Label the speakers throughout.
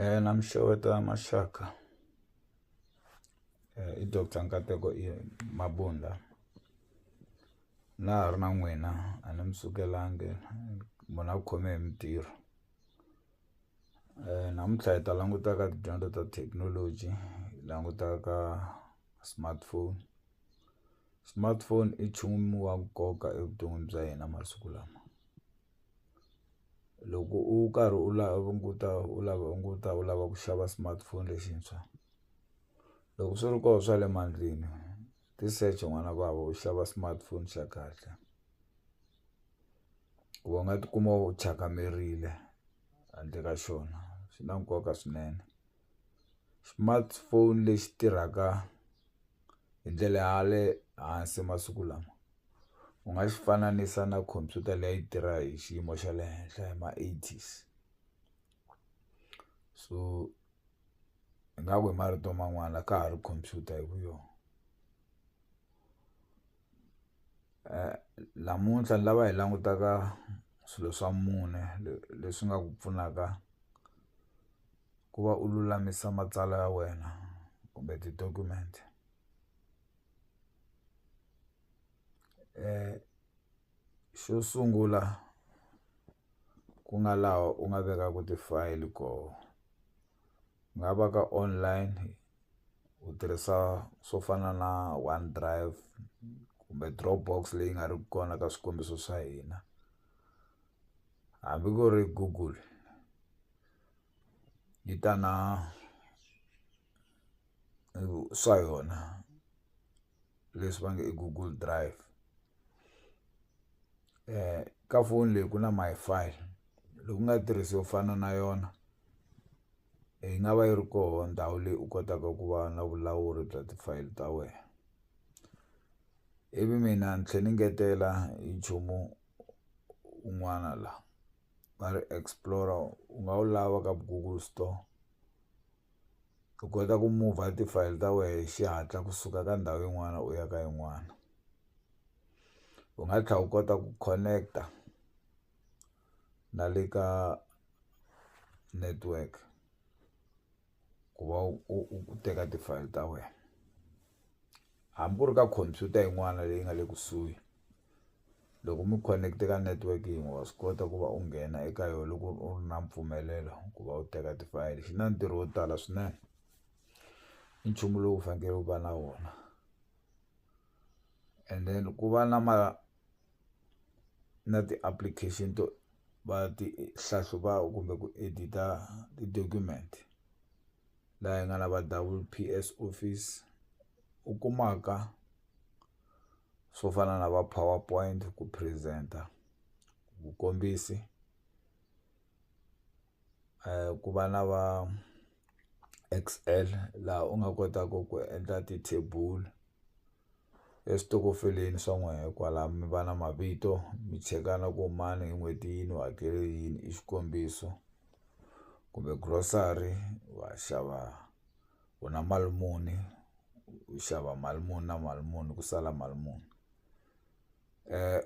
Speaker 1: Eh, na mi xeweta maxaka eh, i doctor nkateko i mabunda na ha ri na n'wina a ni mi sukelangi munhu a ku khome hi mintirho um namuntlha hi ta languta ka tidyondzo ta thekinoloji hi languta ka smartphone smartphone i nchumu wa nkoka evuton'wini bya hina masiku lama. loko u karhi u languta u lava u languta u lava ku xava smartphone lexintshwa loko swi ri koho swa le mandleni ti secha n'wana vava u xava smartphone xa kahle ku va u nga tikuma u thyaka mirile handle ka xona swi na nkoka swinene. smartphone lexi tirhaka hi ndlela ya le hansi masiku lama u nga xi fananisa na khompyuta leyi a yi tirha hi xiyimo xa le henhla hi ma eighties so ingaku hi marito man'wana ka ha ri khompyuta hi ku yona namuntlha ni lava hi langutaka swilo swa mune leswi nga ku pfunaka. ku va u lulamisa matsalwa ya wena kumbe ti-document xo sungula ku nga laha u nga vekaka ti-file koho ku nga va ka online u tirhisa swo fana na one drive kumbe drop box leyi nga ri kona ka swikombiso swa hina hambi ku ri google yi ta na swa yona leswi va nge i google drive ka foni leyi ku na Wi-Fi loku nga tirhisiwa ku fana na yona yi nga va yi ri koho ndhawu leyi u kotaka ku va na vulawuri bya ti-file ta wena ivi mina ni tlhe ni ngetela hi nchumu. un'wana la va ri explore u nga wu lava ka google store u kota ku move ti-file ta wena hi xihatla kusuka ka ndhawu yin'wana u ya ka yin'wana u nga tlhela u kota ku connect-a na le ka network. ku va u u teka ti-file ta wena hambi u ri ka khompyuta yin'wana leyi nga le kusuhi loko mi connect ka network yin'we wa swi kota ku va u nghena eka yona loko u ri na mpfumelelo ku va u teka ti-file xi na ntirho wo tala swinene i nchumu lowu fanekele u va na wona and then ku va na ma. na ti-application to va ti hlahluva kumbe ku edit-a ti-document laha hi nga na va double P_S office u kumaka swo fana na va power point ku present-a vukombisi ku va na va X_L laha u nga kotaku ku endla ti-table eswitokofeleni swa n'wehe kwala mi va na mavito mi chekana ku mani hi n'hweti yini u hakele yini i xikombiso kumbe grocery wa xava u na mali muni u xava mali muni na mali muni ku sala mali muni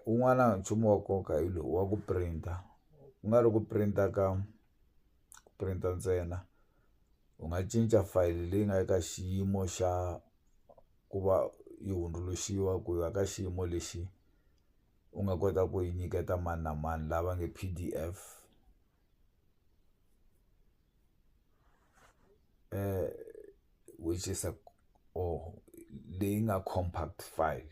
Speaker 1: un'wana nchumu wa nkoka hi lowu wa ku print-a ku nga ri ku print-a ka ku print-a ntsena. u nga cinca fayili leyi nga eka xiyimo xa ku va yi hundzuluxiwa ku ya ka xiyimo lexi u nga kota ku yi nyiketa mani na mani lava nge P_D_F which is a or leyi nga compact file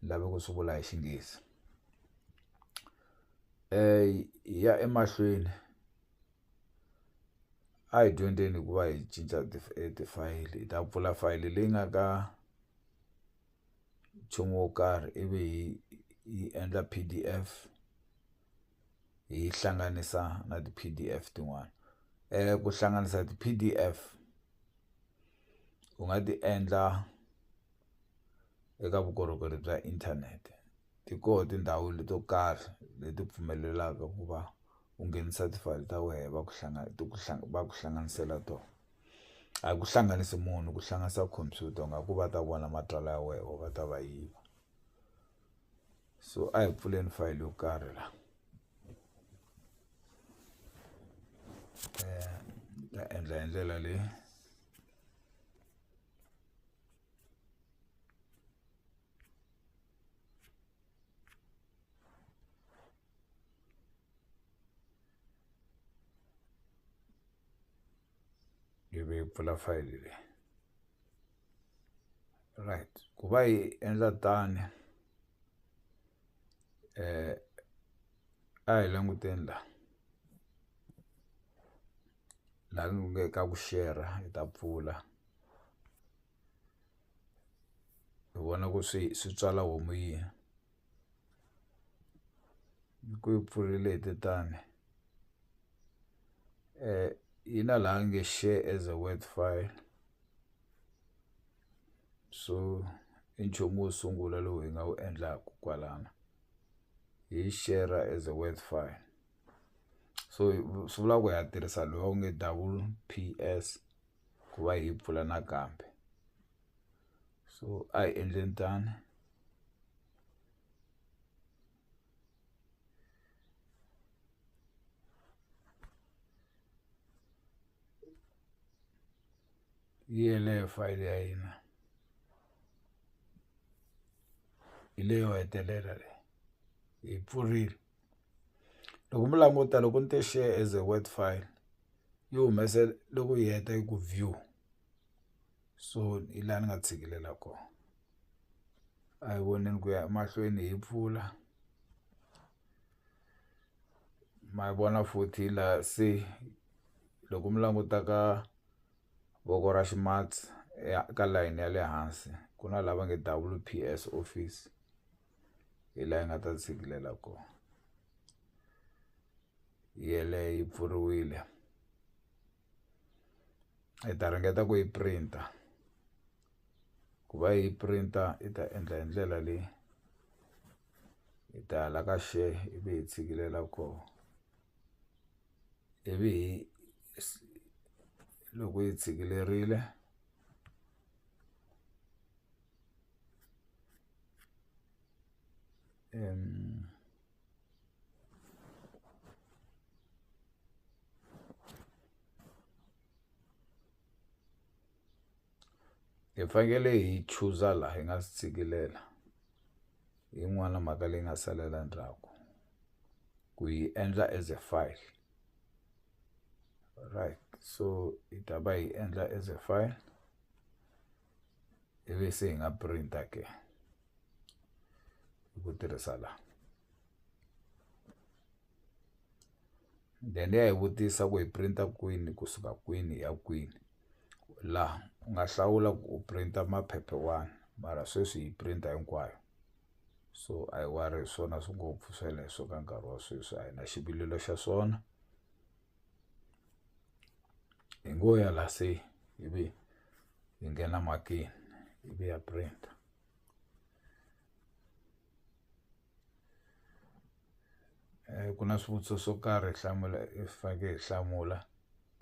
Speaker 1: ni lave ku swi vula hi Xinghezi ya emahlweni. a hi dyondzeni ku va hi cinca tifayili hi ta pfula fayili leyi nga ka nchumu wo karhi ivi hi yi endla P_D_F hi yi hlanganisa na ti-P_D_F tin'wana ku hlanganisa ti-P_D_F u nga ti endla eka vukorhokeri bya inthanete ti koho tindhawu leto karhi leti pfumelelaka ku va. u nghenisa ti-file ta wehe va ku ti ku va ku hlanganisela tona a ku hlanganisi munhu ku hlanganisa khompyuta u nga ku va ta vona matsalwa ya wehe or va ta va yiva so a hi pfuleni fayili yo karhi la eh, ta endla hi ndlela leyi ivi yi pfula fayili leyi right ku va yi endla tani eh a hi languteni la laha ku nge ka ku share hi ta pfula. hi vona ku swi swi tswala homu yi ku yi pfurile hi tetani yi na laha nge share as a word file so i nchumu wo sungula lowu hi nga wu endlaku kwalano hi yi share-ra as a word file so swi vula ku ha tirhisa lowu nge double P_S. ku va hi yi pfula nakambe so a hi endleni tano yi yeleyo fayili ya hina hi leyo hetelela leyi hi pfurile loko mi languta loko ni te share as a word file yi humese loko yi heta yi ku view so hi laha ni nga tshikilela kona a hi voneni ku ya emahlweni hi pfula ma yi vona futhi laha se loko mi languta ka voko ra ximatsi ka layeni ya le hansi ku na lava nge W_P_S office. hi laha yi nga ta tshikilela kona yeleyo yi pfuriwile hi ta ringeta ku yi printer ku va yi printer yi ta endla hi ndlela leyi hi ta hala ka share ivi hi tshikilela kona ivi hi loko yi tshikilerile. Um, hi fanekele hi chuza laha hi nga swi tshikilela yin'wana mhaka leyi nga salela ndzhaku ku yi endla as a file right so hi ta va hi endla as a file ivi se hi nga printa ke hi ku tirhisa la then ya hi vutisa ku hi printa kwini kusuka kwini ya kwini laha u nga hlawula ku u printa maphephe wani mara sweswi hi printa hinkwayo so a hi wari hi swona swi ngopfu sweleswo ka nkarhi wa sweswi a hi na xivilelo xa swona hi ngo ya la se ivi hi nghena makini ivi ya print eh, ku na swivutiso swo karhi hlamula hi faneke hi hlamula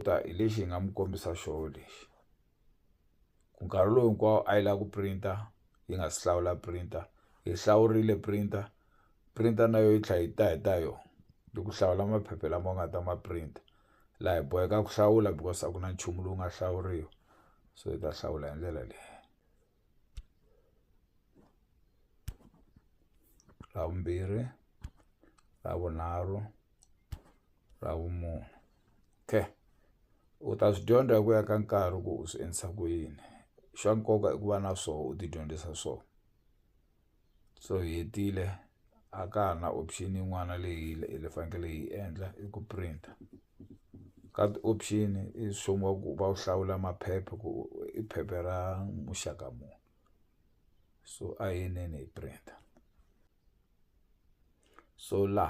Speaker 1: ta hi lexi hi nga mi kombisa xoho lexi ku nkarhi lowu hinkwawo a yi lava ku printer yi nga si hlawula printer hi hlawurile printer printer na yo yi tlhela yi ta hi ta yona hi ku hlawula maphepha lama nga ta ma print laha hi boheka ku hlawula because a ku na nchumu lowu nga hlawuriwa so hi ta hlawula hi ndlela leyi. ra vumbirhi ra vunharhu ra vumune okay u ta swi dyondza hi ku ya ka nkarhi ku u swi endlisa ku yini xa nkoka i ku va na swo u tidyondzisa swo. so hi hetile a ka ha na option yin'wana leyi hi fanekele hi endla i ku printer ka ti-option i swo va ku va wu hlawula maphepha ku i phepha ra muxaka muni so a hi yinene hi printer so la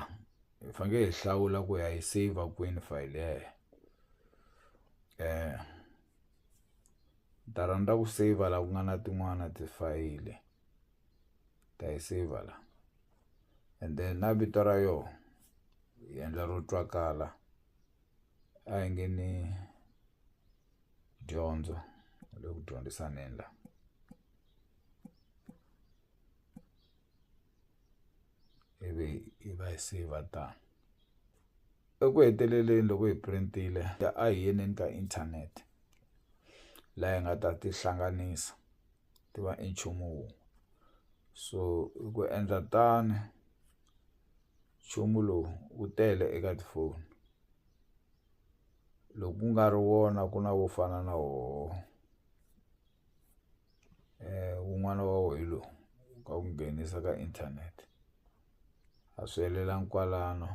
Speaker 1: hi fanekele hi hlawula ku ya yi saver kwini file yeleyo um ta rhandza ku saver laha ku nga na tin'wana tifayili. ni ta yi saver la and then na vito ra yoho hi endla ro twakala a hi nge ni dyondzo hi le ku dyondzisaneni la ivi hi va hi saver tano eku heteleleni loko hi printile a hi yeneni ka inthanete laha hi nga ta tihlanganisa. ti va i nchumu wun'we so i ku endla tano nchumu lowu wu tele eka tifoni loko ku nga ri wona ku na wo fana na woho wun'wana wa wo hi lo ka ku nghenisa ka inthanete a swi helelangi kwalano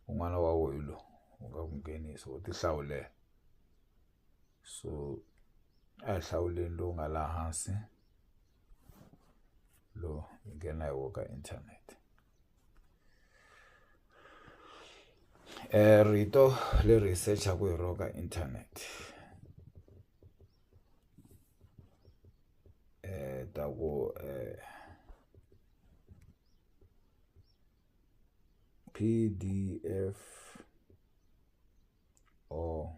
Speaker 1: wun'wana wa wo hi lo wu nga ku nghenisa u ti hlawulela. so a hi hlawuleni lowu nga laha hansi lo hi nghena hi wo ka inthanete um rito leri hi sechaku hi ro ka inthanete um ta ku um pdf or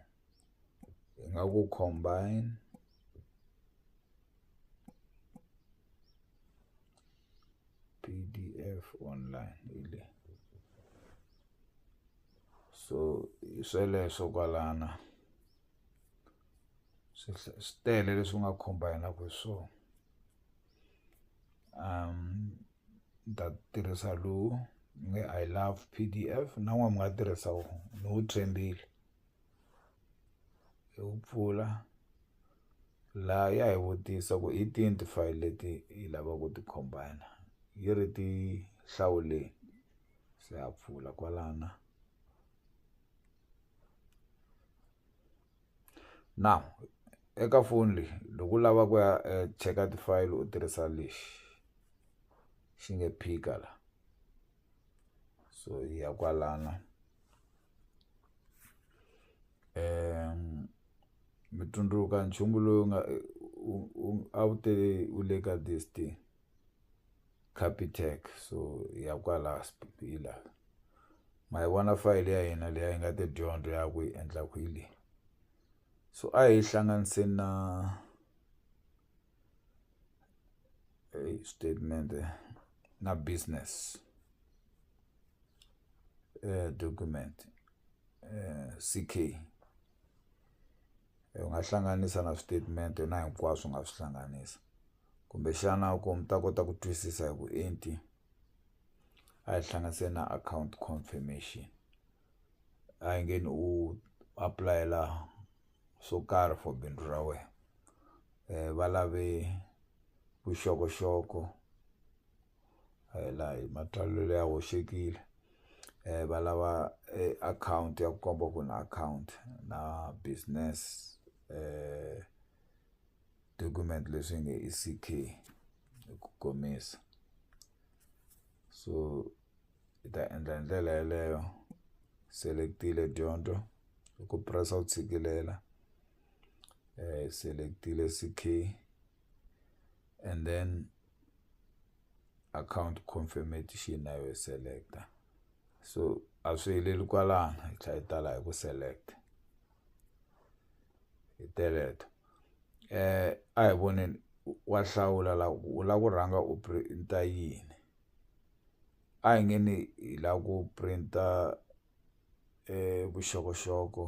Speaker 1: hi nga ku combine P_D_F online hi le so hi sweleswo kwalana swi swi tele leswi nga combine-aka hi swona um. ni ta tirhisa lowu ni nge I love P_D_F na n'wina mi nga tirhisa wona ni wu tshembile hi wu pfula laha ya hi vutisa ku hi tihi ti-file leti hi lava ku ti combine yi ri ti hlawuleni se ha pfula kwalana. now eka foni leyi loko u lava ku ya cheka ti-file u tirhisa lexi xi nge phika la so hi ya kwalana um mi tsundzuka nchumu lowu nga a wu te u le ka this thing. Capitec so ya kwala ma yi vona fayili ya hina leyi a yi nga ta dyondzo ya ku yi endla ku yi leyi so a hi hlanganise na xitatimende na business document C_K. u nga hlanganisa na switatimende na hinkwaswo u nga swi hlanganisa kumbexana ku mi ta kota ku twisisa hi vuenti a hi hlanganise na account confirmation a hi nge ni u apulayela swo karhi for bindzu ra wena va lave vuxokoxoko a hi la hi matsalelo ya hoxekile va lava akhawunti ya ku komba ku na akhawunti na business document leswi nge i C_K hi ku komisa so hi ta endla hi ndlela yeleyo select-ile dyondzo hi ku press-a ku tshikilela select-ile C_K and then. akhawunti confirmation na yo select-a so a swi heleli kwalano hi tlhela hi tala hi ku select hi teleto a hi voneni wa hlawula la ku u la ku rhanga u print-a yini a hi nge ni hi la ku print-a vuxokoxoko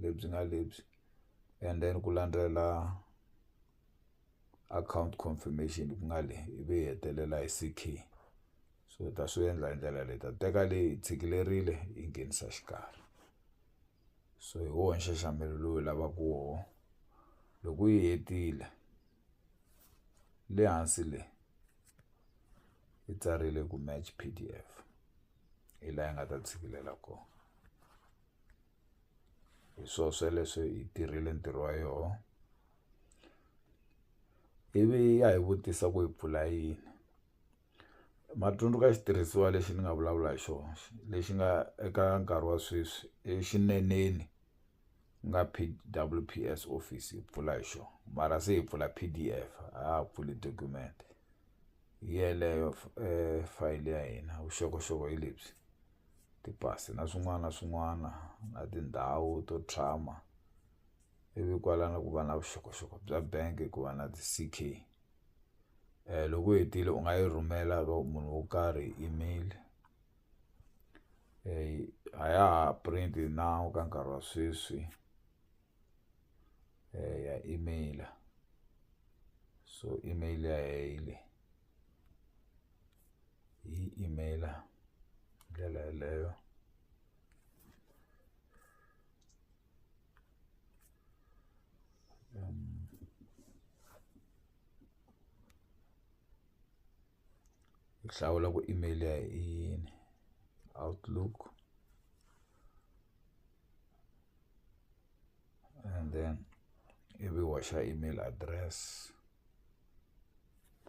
Speaker 1: lebyi nga lebyi and then ku landzela. account confirmation ku nga le ivi hi hetelela hi C_K so hi ta swi endla hi ndlela leyi hi ta teka leyi hi tshikilerile hi yi nghenisa xikarhi so hi wona nxaxamelo lowu hi lavaka woho loko yi hetile le hansi le yi tsarile ku match P_D_F hi la yi nga ta tshikilela kona. hi swo sweleswo yi tirhile ntirho wa yoho ivi ya hi vutisa ku hi pfula yini ma tsundzuka xitirhisiwa lexi ni nga vulavula hi xona lexi nga eka nkarhi wa sweswi exineneni ku nga P_W_P_S office hi pfula hi xona mara se hi pfula P_D_F a ha ha pfuli document hi yeleyo fayili ya hina vuxokoxoko hi lebyi. tipasi na swin'wana na swin'wana na tindhawu to tshama ivi kwala ni ku va na vuxokoxoko bya bank ku va na ti-C_K loko u hetile u nga yi rhumela ka munhu wo karhi email a ya ha print na ka nkarhi wa sweswi ya email so email ya hina hi leyi. hi email hi ndlela yeleyo ku hlawula ku email ya hi yini outlook. and then ivi u hoxa email address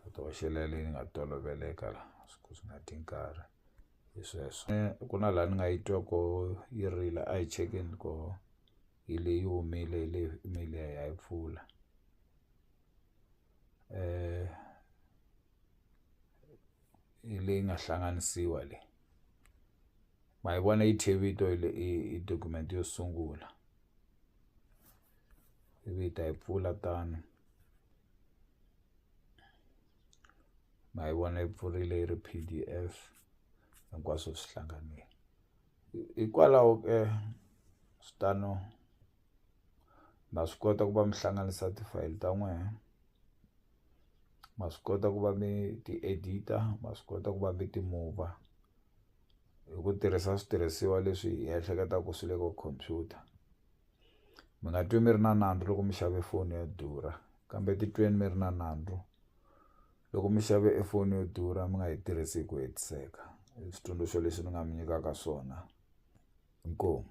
Speaker 1: u ti hoxela leyi nga toloveleka la swi swi nga ti nkarhi hi sweswo eh, ku na laha ni nga yi twa ko yi rila a yi chekeni ko hi leyi humile hi leyi email ya yi pfula um hi leyi nga hlanganisiwa le ma yi vona yi thye vito hi le i i document yo sungula ivi hi ta yi pfula tano ma yi vona yi pfurile yi ri P_D_F hinkwaswo swi hlanganile hikwalaho ke switano ma swi kota ku va mi hlanganisa ti-file ta n'wehe. ma swi kota ku va mi ti edit-a ma swi kota ku va mi ti mover hi ku tirhisa switirhisiwa leswi hi ehleketaka ku swi le ka computer mi nga twi mi ri na nandzu loko mi xave foni yo durha kambe titweni mi ri na nandzu loko mi xave e foni yo durha mi nga yi tirhisi hi ku hetiseka i switsundzuxo leswi ni nga mi nyikaka swona inkomu.